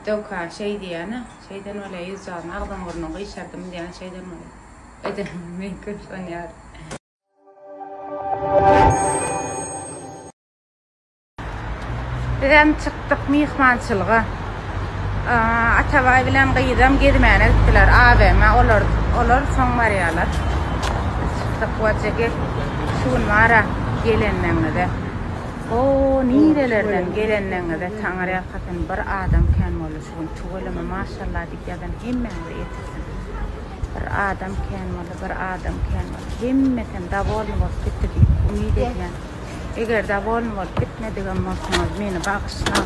Döwka şeý diýýän-ä, şeýden bolýar, ýüzjagyn agzyň-burnuň gyşardym diýýän şeýden bolýar. Edenimiz mümkin şony ýaly. Bizem çykdyk myhmançylyga. Atabaý bilen gyzam gezmäne gitdiler AVM-a. Olar olar soň barýarlar. Biz çykdyk. Wajegi şu gün bar-a gelenleňize. O nirelerden gelenligiňize taňyrýalkasyn bir adam kän boldy şu gün tüweleme maşallah diýip ýazan hemmäňize ýetirsin bir adam kän boldy bir adam kän boldy hemmesem dawolny bolup gitdi diýip umyt edýän eger dawolny bolup gitmedigem bolsaňyz meni bagyşlaň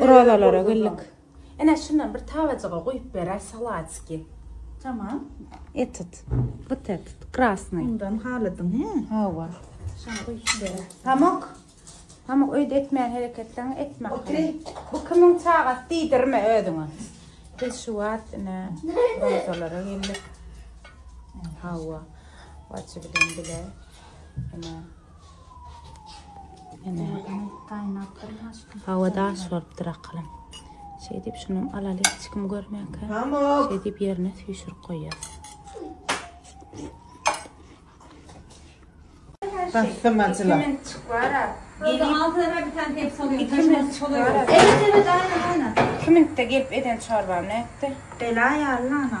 Orazalara geldik. Ene şundan bir tabajyga goýup beräý salatiki. Tamam. Etit. Gyt etit. Krasny. Bundan halydyň, he? Hawa. Şan goýup beräý. Pamuk. Pamuk öýde etmäň hereketleň etme. Otur. Bu kimiň çagasy diýdirme özüňe. Biz şu wagt ene orazalara geldik. Hawa. Waçy bilen bile. Ene. Hawa daş bolupdyr akylam. Şeýdip şuny alaly hiç kim görmänkä. Şeýdip ýerine süýşürip goýýas. Bastym açyla. Kimin de gelip eden çorbam nätdi? Bela ýaly ana.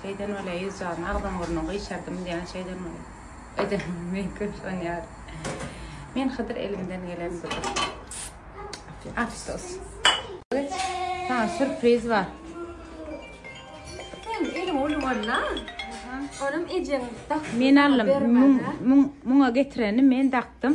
Şeýden bolýar ýüz jan agzyň burnuň gyşardym diýýän şeýden bolýar edenimiz men köp ynanýaryn men hydyr elimden gelen budur afsus saňa surpriz bar sen eliň uly bolna olam ejeň dakdy men aldym muňa getireni men dakdym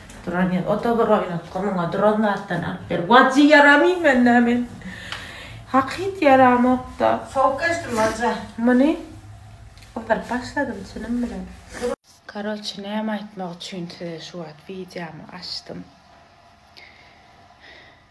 Duran ýer, o-da bir oýnatgy, muňa duran zatdan alyp ber. Bajy ýaramaýyn men-ä men. Hakyt ýaramok-da. Sowuk geçdim Baja. Muny gyzyryp başladym çynym bilen. Karoçe näme aýtmak üçin size şu wagt wideomy açdym.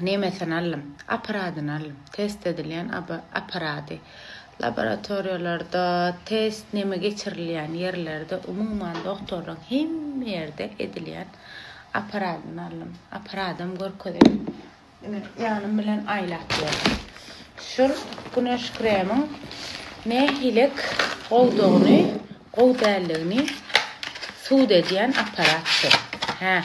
Nemesini aldym. Apparadyny aldym. Test edilýän apparady. Laboratoriýalarda, test neme geçirilýän ýerlerde, umuman dogtorlaryň hemme ýerde edilýän apparadyny aldym. Apparadam görkezeýin. Ine, ýanym bilen aýlap ýörün. Şul güneş kremiň nähilek goldugyny, gowy däldigini sud edýän apparat şu. Hä.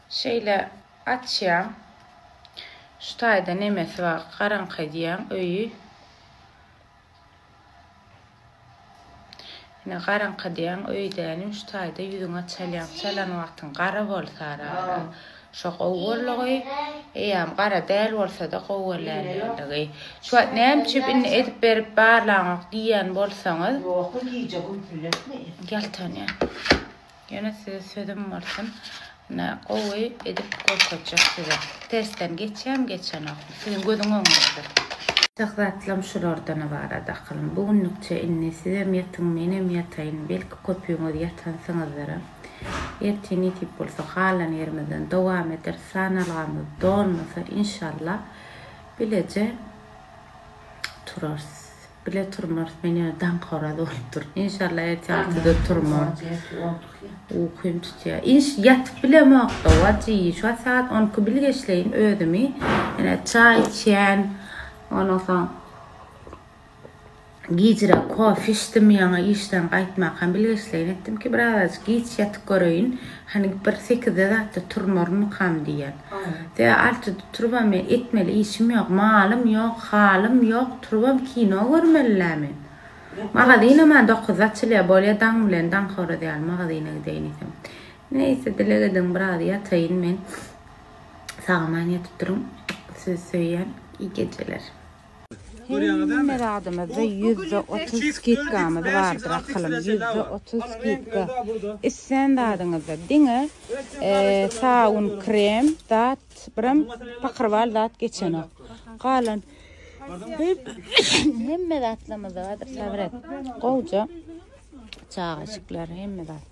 Şeýle açýaň. Şu taýda nemesi bar, garaňky edýäň öýi. Ine garaňky edýäň öýi dänim, şu taýda ýüzüňe çalýaň. Çalan wagtyň gara bolsa ara-ara şo gowy borlugy, eýýäm gara däl bolsa-da gowy bolýanligi. Şu wagt näme üçin indi edip berip barlaňok diýýän bolsaňyz. Ýok, gije gümsületme. Ýaltanýar. Ýene size sözüm bolsun ine gowy edip görkezjek size testden geçýäm geçenok siziň gözüň öňünde. Ýatak zatlam şulardan ybarat akyllym bu günlükçe indi sizem ýatyň menem ýataýyn belki köpüňiz ýatansyňyzdyra ertir nesip bolsa halan ýerimizden dowam ederis sanalgamyz dolmasa inşallah bileje turarys. Bile turmarys men ýöne daň horaz bolup durun inşallah ertir altyda turmar ukym tutýa inş ýatyp bilemokda waji şuwagt sagat on iki bil geçleýin özümi ýene çaý içýän ondan soň gijire kofe içdim ýaňa işden gaýtmakam bil geçleýin etdim ki biraz giç ýatyp göreýin hani bir sekizde zatda turmarmykam diýýän Sea artydy turba men etmeli işim ýok malym ýok halym ýok turbam kino görmelilä men magazynama dokuzda açylýa bolýa daň bilen daňhoraz ýaly magazyna gideýin isem neýse dileg ediň biraz ýataýyn men sagaman ýatyp duruň sizi söýýän iý gejeler. Hemme zadymyzda ýüzde otuz skidkamyz bardyr akylym, ýüzde otuz skidka. Islän zadyňyzda, diňe sabun, krem zat, birem pakyrbaly zat geçenok. Galan hemme zatlarymyzda bardyr, sabyr et. Gowja çagaşyklar hemme zat.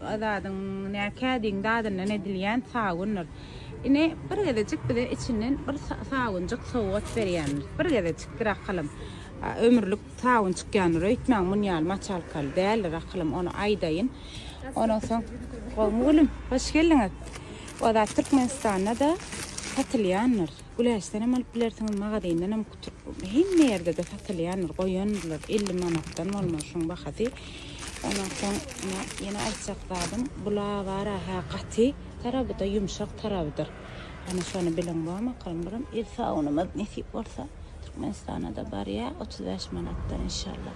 Azadyň näkä deň dadyndan edilýän sabundyr. Ine, bir gezejik bize içinden bir sabunjyk sowgat berýändir. Bir gezejikdir akylym. Ömürlik sabun çykýandyr öýtmäň, muny ýaly maçalkaly däldir akylym, ony aýdaýyn. Ondan soň, gowmy gülüm, hoş geldiňiz. O zat Türkmenistanda-da satylýandyr. Güläçden hem alyp bilersiňiz, magazyndan hem. Hemme ýerde-de satylýandyr, goýandylar, elli manatdan bolmaly şuň bahasy. Ondan soň ýene aýtjak zadym, bu lawara hä gaty taraby-da, ýumşak tarabydyr. Hany şony bilen goýaň bakalym, buram el sabunymyz nesip bolsa Türkmenistana-da barýar, otuz bäş manatdan inşallah.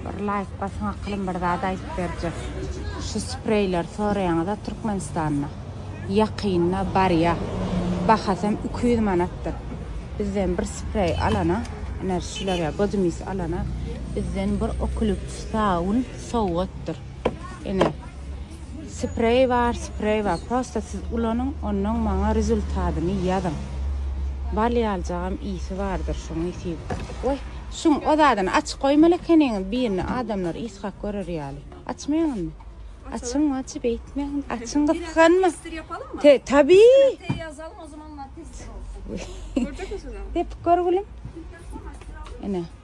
Bir laýk basyň akylym bir zat aýdyp berjek. Şu spreýler soraýaňyza Türkmenistanda ýakynda barýa. Bahasam iki ýüz manatdyr. Bizden bir spreý alana ine şular ýa bodymis alana bizden bir oklip saun sowgatdyr. Ine. Spreý bar, spreý bar. Prosta siz ulanyň, onnoň maňa rezultadyny ýazyň. Bal ýaljagam ysy bardyr şuň ysy. Woý, şuň o zadyny açyk goýmaly ekeniňiz birini adamlar ysgak görer ýaly. Açmaýaňyzmy? Açyň ajy beýtmäň. Açyň gysganma. Tester ýapalyň mı? Te, tabi. Te ýazalyň o zaman tester bolsun. Görjekmisiňiz? Depip gör gülüm. Ene.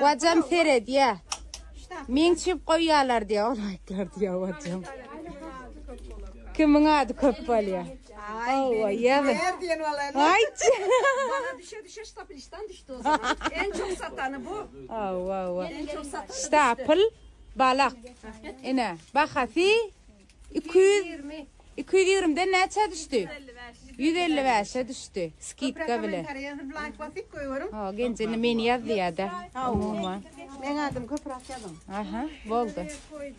Wajam seredýä. Meň çip goýýarlar diýä, ol aýtlar diýä wajam. Kimiň ady köp bolýa? Hawa, ýa-da. Aýt. Bana düşe düşe ştaplistan düşdi o zaman. En çok satanı bu. Hawa, hawa. Ştapl balak. Ine, bahasy Iki ýüz ýigrimi. Iki ýüz ýigrimden näçä düşdi? Ýüz elli bäşe düşdi. Skidka bilen. Ha, genjini meni ýaz diýýär-de. Umuman. Meň adym köpürak ýazyň. Aha, boldy.